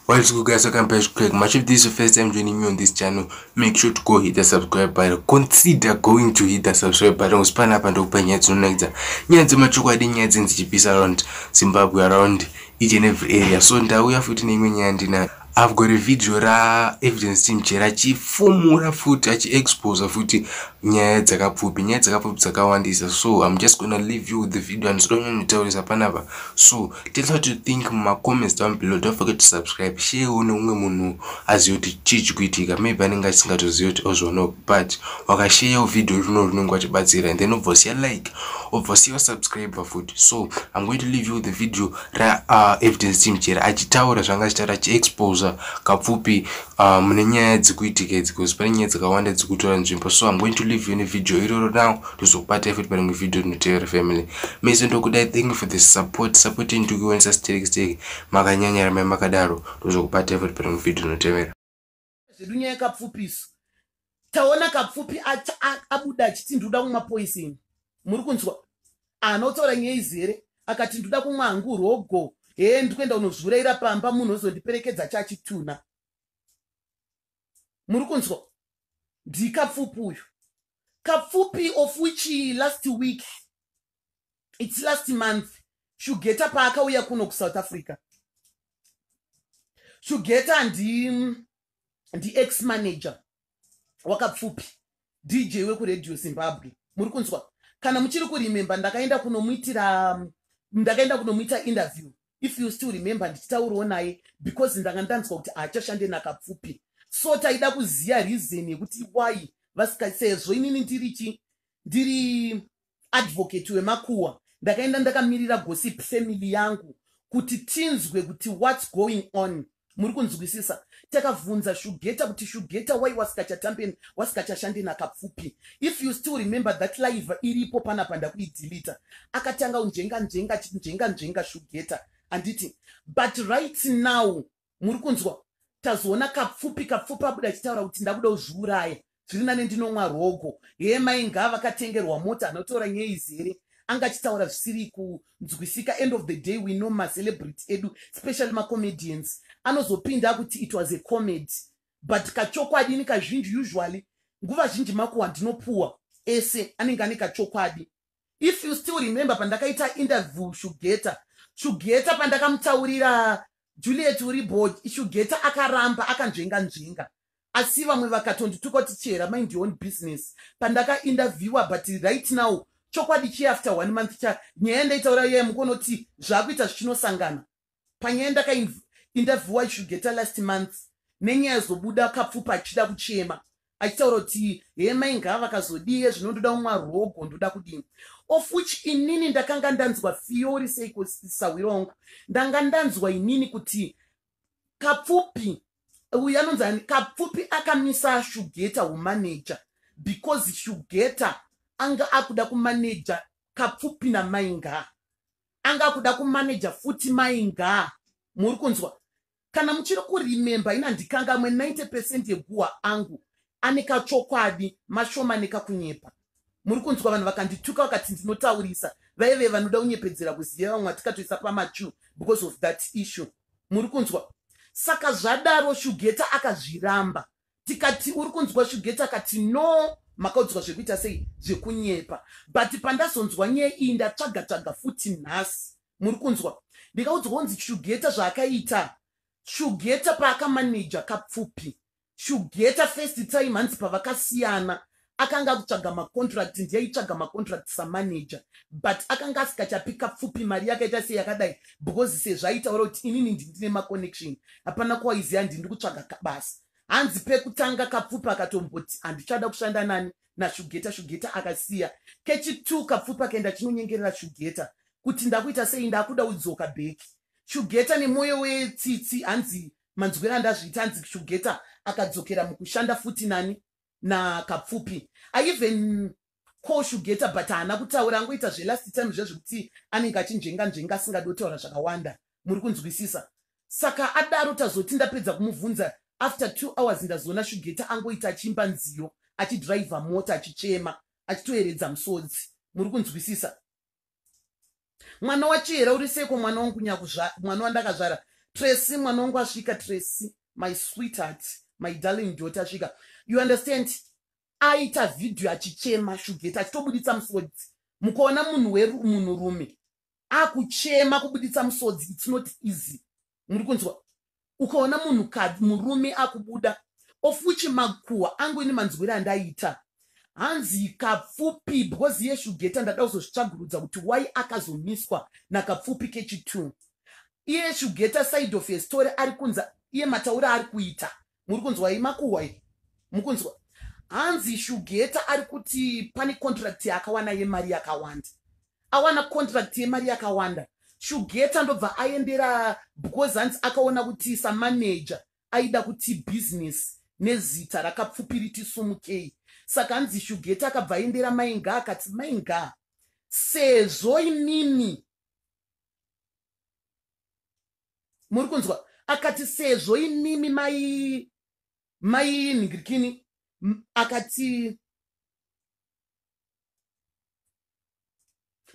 What is good guys, welcome back to Craig. Much if this is your first time joining me on this channel, make sure to go hit the subscribe button. Consider going to hit the subscribe button. Usipana apa ndokupa nyaya dzinonakidza. Nyaya dzemachokwadi, nyaya dzinzi chipisa around Zimbabwe around each and every area so ndauya futi neimwe nyaya ndinayo i've got a video raevidence team chera achifumura futi achiexposa futi nyaya dzakapfupi nyaya dzakapfupi dzakawandisa so im just gonna leave you with the video and zidonyanyitaurisa panapa so tell what you think mumacomments down below don't forget to subscribe share one umwe munhu azive kuti chii chikuitika maybe anenge asingatozive kuti ozvoono but wakasheyawo video rino rinenge wachibatsira and then obvosiya like obvosiya wasubscriber futi so im going to leave you the video raevidence uh, team chera achitaura zvanga achitaura achiexposa kapfupi uh, mune nyaya dzikuitika idzi bcause pane nyaya dzakawanda dzikutora nzvimbo so im going to leave you nevideo iroro now tozokubata futi parimwe video rinotevera family mese ndokudai thank you for the support support intukiwonisa steki steki makanyanya ramai makadaro tozokubata futi parimwe video rinotevera zvedu nyaya kapfupisu taona kapfupi abuda achiti ndoda kumwa poisini muri kunzwa anotaura nyaya izi here akati ndoda kumwa hangu rogo hee ndikuenda unozvuraira pamba munhu ozondiperekedza chachituna muri kunzwa ndikapfupi uyu kapfupi of which last week its last month shugeta paakauya kuno kusouth africa shugeta ndi ndiex manager wakapfupi dj wekuradio zimbabwe muri kunzwa kana muchiri kuremember ndakaenda kunomuitira um, ndakaenda kunomuita interview if you still remember ndichitaurawo naye because ndanga ndanzwa kuti haachashande nakapfupi so taida kuziva reason yekuti why vasika sezvo inini ndiri chi ndiri advocate wemakuwa ndakaenda ndakamirira gossip family yangu kuti tinzwe kuti what's going on muri kunzwisisa takavhunza shugeta kuti shugeta why wasikachatambeni wasikachashande nakapfupi if you still remember that live iripo panapa ndakuidilita akatanga unjenga njenga njenga njenga shugeta handiti but right now muri kunzwa tazoona kapfupi kapfupi abuda achitaura kuti ndakuda uzviuraya zviri nane ndinomwa rogo hee mai ngaa vakatengerwa mota anotora nyei zere anga achitaura zvisiri kunzwisika end of the day we know macelebrity edu especially macomedians anozopinda kuti it was a comedy but kachokwadi ini kazhinji usually nguva zhinji makuwa ndinopuwa ese anenge ane kachokwadi if you still remember pandakaita interview shugeta shugeta pandakamutaurira juliet uri boy shugeta akaramba akanzvenga nzvenga asi vamwe vakatondituka kuti chera mind your own business pandakainterviewa but right now chokwadi chiafter one month cha nyaya ndaitaura yeye mukonoti zvakuita zvichinosangana panyaya ndakaindavhiwa ishugeta last month nenyaya zobuda kapfupa achida kuchema achitaura kuti he mai ngaa vakazodie zvino ndoda kumwa rogo ndoda kudini of which inini ndakanga ndanzwa fiori seiko sahwiro wangu ndanga ndanzwa inini kuti kapfupi uyu anonzi ani kapfupi akamisa shugeta humaneja because shugeta anga akuda kumaneja kapfupi namai ngaa anga akuda kumanaja futi mai ngaa muri kunzwa kana muchiri kurememba ina ndikangamwe 90 percent yeguhwa angu ane kachokwadi mashoma nekakunyepa muri kunzwa vanhu vakandituka vakati ndinotaurisa vaive vanoda kunyepedzera kuziva vamwe vatikatoisa pamachu because of that issue muri kunzwa saka zvadaro shugeta akazviramba tikati uri kunzwa shugeti akati no makaudzwa zvekuita sei zvekunyepa but pandazonzwa nyaya iyi ndatsvaga tsvaga futi nhasi muri kunzwa ndikaudzwa kunzi shugeta zvaakaita shugeta paakamaneja kapfupi shugeta first time hanzi pavakasiyana akanga akutsvaga macontract ndiyaitsvaga macontract samanager but akanga asikachapika pfupi mari yakaita sei yakadai because sezvaitaura kuti inini ndindine maconnection hapana kwaiziva ndindi kutsvaga kabasa hanzi pekutanga kapfupi akatomboti handichada kushanda nani nashugeta shugeta akasiya kechitu kapfupi akaenda chinonyengerera shugeta kuti ndakuita sei ndakuda udzoka bheki shugeta nemwoyo wetsitsi hanzi manzwira ndazviita hanzi shugeta akadzokera mukushanda futi nani nakapfupi i even call shugeta but haana kutaura angoita zvelast time zviya zvekuti anenge achinzvenga nzvenga asingadi kutaura zvakawanda muri kunzwisisa saka adaro tazoti ndapedza kumubvunza after two hours ndazoona shugeta angoita achiimba nziyo achidhiraivha mota achichema achitoyeredza musodzi muri kunzwisisa mwana wachihera uri seiko mwana wangu nyakuzvara mwana wandakazvara tracy mwana wangu asvika tracy my sweetheart my darling daughter asvika you understand aita vhidhiyo achichema shugeta achitobuditsa musodzi mukaona munhu wemunhurume akuchema kubuditsa musodzi its not easy muri kunzwa ukaona munhu kadzi murume akubuda of which makuhwa angu ini manzwira andaita hanzi kapfupi because yeshugeta ndada kuzozvitsvagurudza kuti why akazomiswa nakapfupi kechitu iye shugeta side of yestory ari kunza iye mataura ari kuita muri kunzwa iyi makuhwa iyi mukunzwa hanzi shugeta ari kuti pane contract yaakawana yemari yakawanda awana contract yemari yakawanda shugeta ndobva aendera because hanzi akaona kuti samaneja aida kuti business nezita rakapfupiriti sumukei saka hanzi shugeta akabva aendera mainga akati mainga sezvo inini muri kunzwa akati sezvo imimi mai mai nhingirikini akati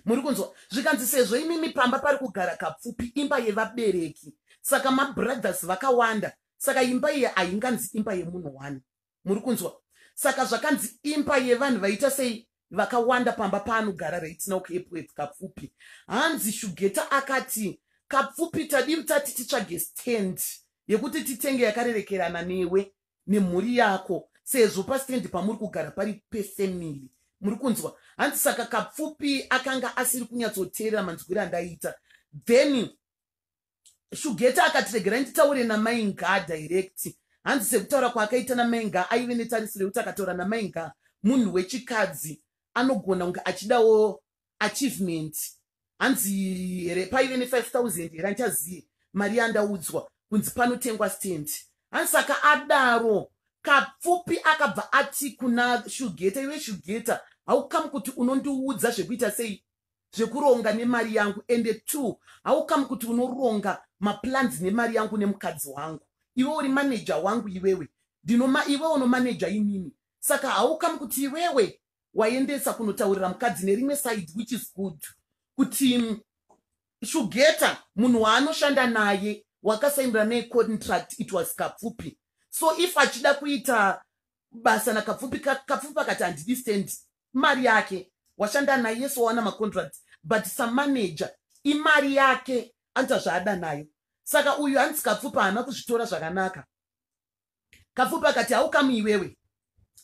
muri kunzwa zvikanzi sezvo imimi pamba pari kugara kapfupi imba yevabereki saka mabrothers vakawanda saka imba iyi hainganzi imba yemunhu wani muri kunzwa saka zvakanzi imba yevanhu vaita sei vakawanda pamba paanogara raitina ukepwet kapfupi hanzi shugeta akati kapfupi tadii tati titsvage stand yekuti titenge yakarerekerana newe nemhuri yako sezvo pastand pamuri kugara pari pefamily muri kunzwa hanzi saka kapfupi akanga asiri kunyatsoteerera manzwiro andaiita then shugeta akati regerai nditaure namai ngaa direct hanzi sekutaura kwaakaita namai ngaa aive netarisiro yekuti akataura namai ngaa munhu wechikadzi anogona kunge achidawo achievement hanzi here paive nefive thousand here andichaziye mari yandaudzwa kunzi panotengwa stand hanzi saka adaro kapfupi akabva ati kuna shugeta iwe shugeta haukamu kuti unondiudza zvekuita sei zvekuronga nemari yangu ende two haukamu kuti unoronga maplans nemari yangu nemukadzi wangu iwe uri maneja wangu iwewe ndinoma iwe unomaneja inini saka haukamu kuti iwewe waendesa kunotaurira mukadzi nerimwe side which is good kuti mm, shugeta munhu waanoshanda naye wakasainira naye contract it was kapfupi so if achida kuita basa nakapfupi kapfupi akati handidi stand Mari yake washanda naye yes wawana macontract but samanager imari yake anoita zvaada nayo saka uyu hanzi kapfupa haana kuzvitora zvakanaka kapfupa akati haukamu iwewe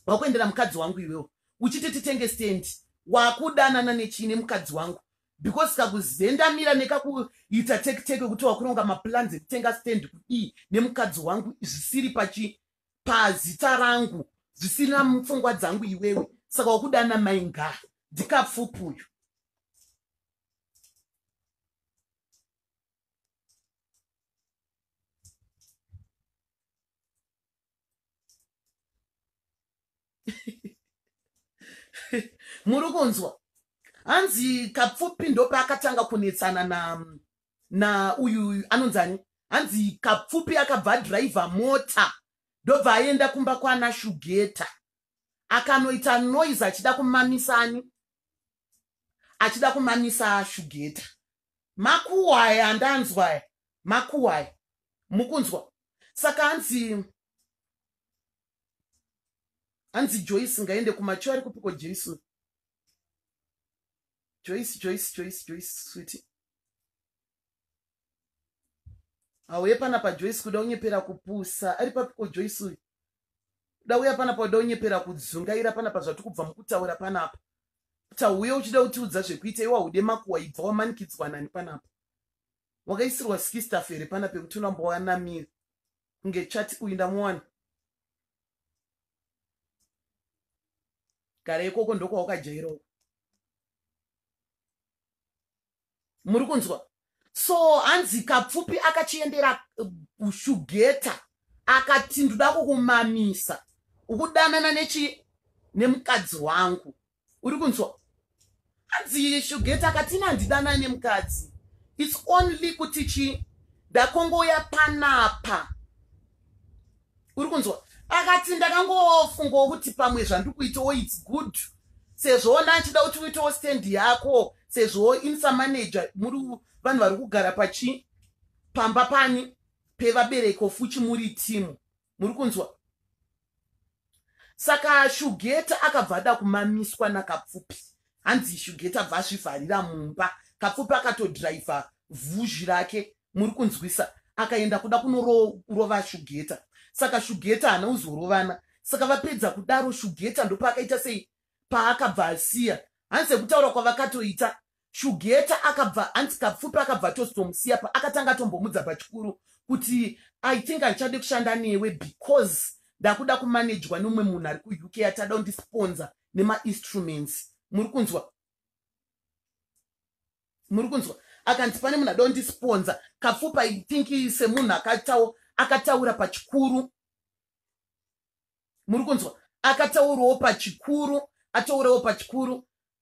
wakuendera mukadzi wangu iwewe uchiti titenge stand wakudanana nechii nemukadzi wangu because kakuzendamira nekakuita tekiteke kuti wakuronga maplans ekutenga stand kudii nemukadzi wangu zvisiri pachii pazita rangu zvisina mupfungwa dzangu iwewe saka wakudana mai nga ndikapfupi uyu muri kunzwa hanzi kapfupi ndopaakatanga kunetsana na na uyu uyu anonzi ani hanzi kapfupi akabva adhiraivha mota ndobva aenda kumba kwana shugeta akanoita noise achida kumamisa ani achida kumamisa shugeta makuwaya andanzwaya makuwaya mukunzwa saka hanzi hanzi joyce ngaende kumacho ari kupiko jason joyce joyce joyce joyce switi hauye pana pajoyce kuda unyepera kupusa ari papiko joyce uyu kuda uya panapa uda unyepera kudzungaira panapa zvati kubva mukutaura panapa tauye uchida kutiudza zvekuita iwa ude makuwa ibva wamanikidzwa nani panapa wakaisirwa skistaf here pana pekuti unambowanamira kunge chati uyu ndamuwana gara ikoko ndokwawakajaira uko muri kunzwa so hanzi kapfupi akachiendera eh, kushugeta akati ndoda kukumamisa ukudanana nechi nemukadzi wangu uri kunzwa hanzi shugeti akatina handidana ane mukadzi its only kuti chi ndakongouya panapa uri kunzwa akati ndakangofungawo kuti pamwe zvandikuitawo its good sezvo ona achida kuti uitawo stand yako sezvo insa manager muri vanhu vari kugara pachi pamba pani pevabereki ofuchi muri timu muri kunzwa saka shugeta akabva ada kumamiswa nakapfupi hanzi shugeta bva azvivharira mumba kapfupi akatodhiraivha vhuzhi rake muri kunzwisa akaenda kuda kunorova shugeta saka shugeta haana kuzorovana saka vapedza kudaro shugeta ndopaakaita sei paakabva asiya hanzi sekutaura kwavakatoita Shugeta akabva hanzi kapfupi akabva atozomusiya pa akatanga atombomudza pachikuru kuti I think andichade kushanda newe because ndakuda kumanejwa neumwe munhu ari kuuk atada undisponza nemainstruments muri kunzwa muri kunzwa akanzi pane munhu ada undisponza kapfupi I think semunhu akatawo akataura pachikuru muri kunzwa akataurawo pachikuru ataurawo pachikuru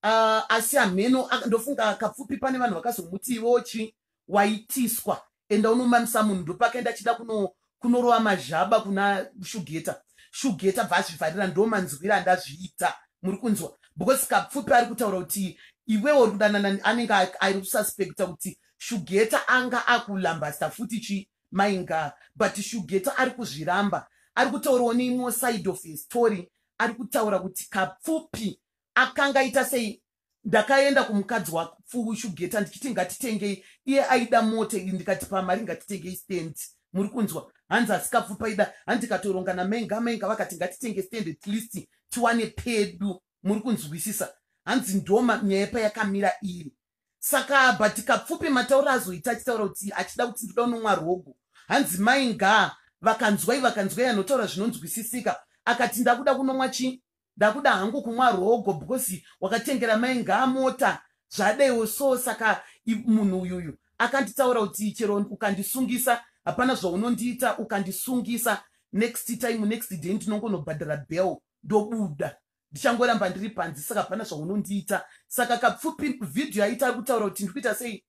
uh, asi hameno ndofunga kapfupi pane vanhu vakazomuti ivo chi waitiswa enda unomamisa munhu ndopakaenda achida kuno kunorova mazhaba kuna shugeta shugeta bva azvivharira ndo manzwira andazviita muri kunzwa because kapfupi ari kutaura kuti iwewo uri kudanana anenge ari kususpecta kuti shugeta anga akulambasta futi chi Maingaa but Shugeta ari kuzviramba ari kutaurawo neimwewo side of a story ari kutaura kuti Kapfupi akanga aita sei ndakaenda kumukadzi wakushugeta ndichiti ngatitengei iye aida mota iyi ndikati pamari ngatitengei stand muri kunzwa hanzi asikapfu paida hanzi ndikatoronga namenga menga vakati ngatitenge stand at least tiwane pedu muri kunzwisisa hanzi ndoma nyaya payakamira iri saka but kapfupi mataura azoita achitaura kuti achida kuti ndoda unomwa rogo hanzi mai ngaa vakanzwai vakanzwai anotaura zvinonzwisisika akati ndakuda kunomwa chii ndakuda hangu kumwa rogo because wakatengera mai ngaa mota zvadaiwo so saka munhu uyuyu akanditaura kuti chero ukandisungisa hapana zvaunondiita ukandisungisa next time next day ndinongonobhadhara bell ndobuda ndichangoramba ndiri panze saka hapana zvaunondiita saka kapfupi vhidhiyo yaita ari kutaura kuti ndiri kuita sei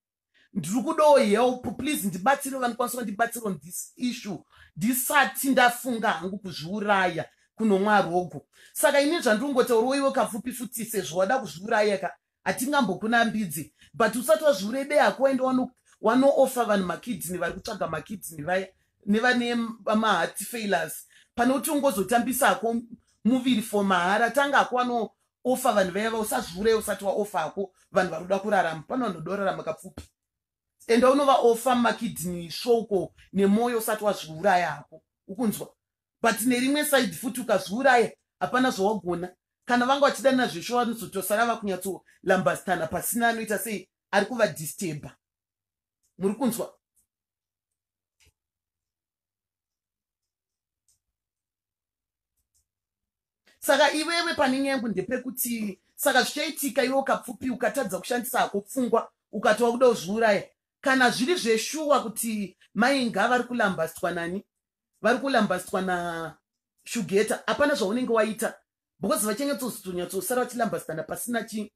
ndiri kudawo help please ndibatsire vanikwanisa vandibatsire on this issue ndisati ndafunga hangu kuzviuraya kunomwa rogo saka ini zvandiri kungotaurawo iwe kapfupi futi sezvo wada kuzviuraya ka hatingambokunambidzi but usati wazviurebe hako waende wanoofa vanhu makidney vari kutsvaga makidney vaya nevane maheart failures pane kuti ungozotambisa hako muviri for mahara tanga hako wanoofa vanhu vaya va usazviurei usati waofa hako vanhu vari kuda kurarama pane vanhu voda kurarama kapfupi enda unovaofa makidney svouko nemwoyo usati wazviuraya hako ukunzwa but nerimwe side futi ukazviuraya hapana zvawagona kana vanga vachidanana zvesho vanozotosara vakunyatsolambastana pasina anoita sei ari kuvadisteba muri kunzwa saka iwewe pane nyaya yangu ndepekuti saka zvichaitika iwe ukapfupi ukatadza kushandisa hako pfungwa ukatova kuda kuzviuraya kana zviri zveshuwa kuti mai ngava vari kulambastwa nani vari kulambasitwa nashugeta hapana zvaunenge waita because vachengetozonyatsousara vachilambasitana pasina chi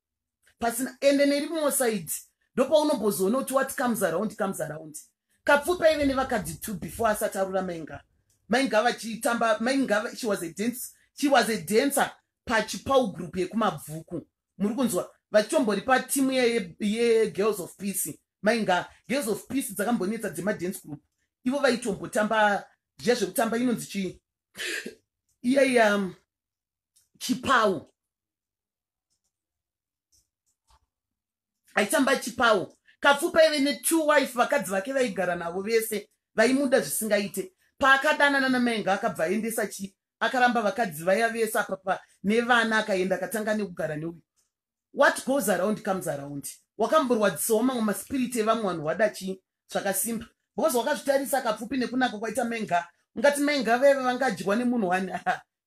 pasina ende nerimwewo saidi ndopaunombozoona kuti what comes around comes around kapfupi aive nevakadzi two before asati arura mainga mainga vachitamba mainga she was a dance she was a dancer pachipawu group yekumabvuku muri kunzwa vachitombori patimu yegirls of peace mainga girls of peace dzakambonetsa dzemadance group ivo vaitombotamba zviya zvekutamba inonzi chii iyaiya um, chipawu aitamba chipawu kapfupa ive netwo wife vakadzi vake vaigara navo vese vaimuda zvisingaite paakadanana namainga akabva aendesa chii akaramba vakadzi vaya vese apapa nevana akaenda akatanga nekugara neuyu what goes around comes around wakamborwadzisawo mamwe maspiriti evamwe vanhu wada chii zvakasimba because wakazvitarisa akapfupi nekunaka kwaita menga ungati menga veve vangadyiwa nemunhu wani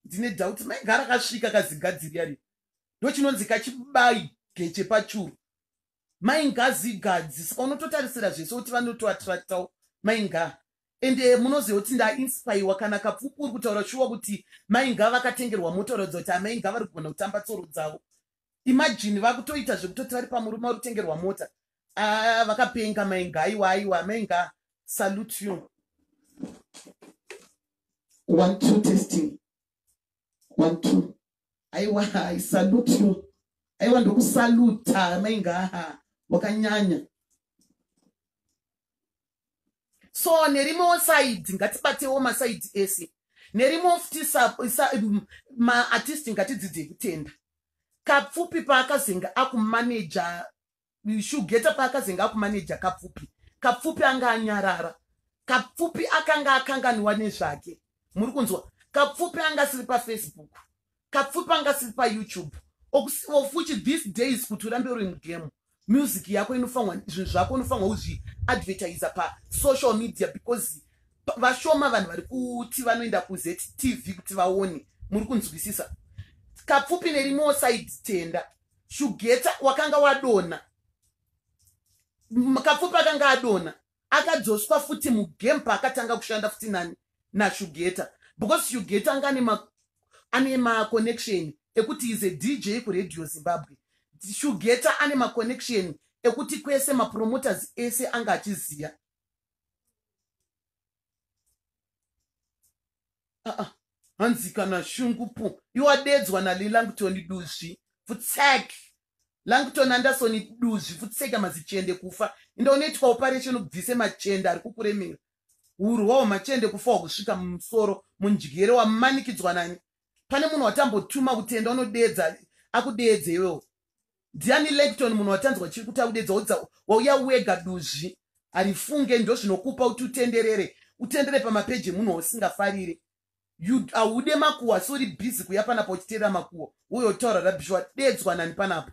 ndine doubt menga rakasvika kazigadziri yari ndochinonzi kachibai geche pachuru mainga zigadzi saka unototarisira zvese kuti vanotoatractawo mainga and eh, munoziva kuti ndainspaiwa kana kapfupi uri kutaura shuwa kuti mai ngava vakatengerwa mota uratidza kuti amai ngava vari kugona kutamba tsoro dzavo imajini vakutoita zvekutoti vari pamurume vari kutengerwa mota ah, vakapenga mai nga aiwa aiwa amai nga salute you one two testing one two aiwa i salute you aiwa ndokusaluta amai nga wakanyanya so nerimwewo saidi ngatibatewo masaidi ese nerimwewo futi maartisti ngatidzidzei kutenda kapfupi paakazenge akumaneja shugeta paakazenge akumaneja kapfupi kapfupi anga anyarara kapfupi akanga akanganiwa nezvake muri kunzwa kapfupi anga asiri pafacebook kapfupi anga siri payoutube okusivofuchi this days kuti urambe uri mugame music yako inofanwa zvinhu zvako unofanwa uzviadvertisa pasocial media because vashoma vanhu vari kuti vanoenda kuztv kuti vaone muri kunzwisisa kapfupi nerimwewo side tenda shugeta wakanga wadona kapfupi akanga adona akadzoswa futi mugame paakatanga kushanda futi nani nashugeta because shugeta anga ane maconnection ekuti is a dj kuradio zimbabwe shugeta ane maconnection ekuti kwese mapromoters ese anga achiziva aa hanzi kana shungu pu iwadedzwa nalelangtoni duzvi futsek langton andasoni duzvi futseka mazichende kufa inda unoitwa operation ubvise machende ari kukuremera urwawo machende kufa wakusvika mumusoro mundyere wamanikidzwa nani pane munhu watambotuma kutenda unodeedza akudeedze iwewo ndiani lecton munhu watanzwa chiri kuti akudedza udza wauya wega duzvi harifunge ndozvinokupa kuti utenderere utendere pamapeji emunhu wausingafarire haude makuwa asi uri bhizi kuya panapa uchiteerera makuwa woyotaura rabishwa dedzwa nani panapa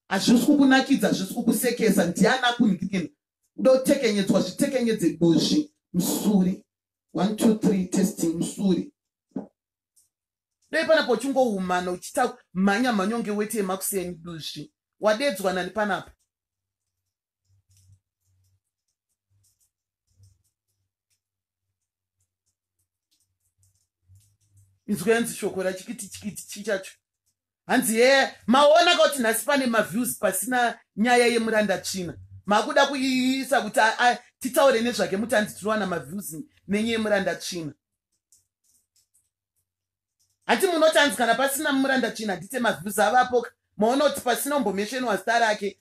hazvisi kukunakidza hazvisi kukusekesa ndiani akunikikina uda kutekenyedzwa zvitekenyedze duzvi musuri one two three testing musuri dai panapa uchingoumana uchita mhanya mhanyonge weti yemakuseni duzvi wadedzwa nani panapa inzwa yanzi shoko rachikiti chikiti chichacho hanzi hee maona kauti nhasi pane maviews pasina nyaya yemuranda tsvina makuda kuiisa kuti titaure nezvake muti hanzi tinowana maviews nenye yemuranda tsvina hati munoti hanzi kana pasina muranda tsvina handite maviews avapoka maona kuti pasina umbomeshenwa zita rake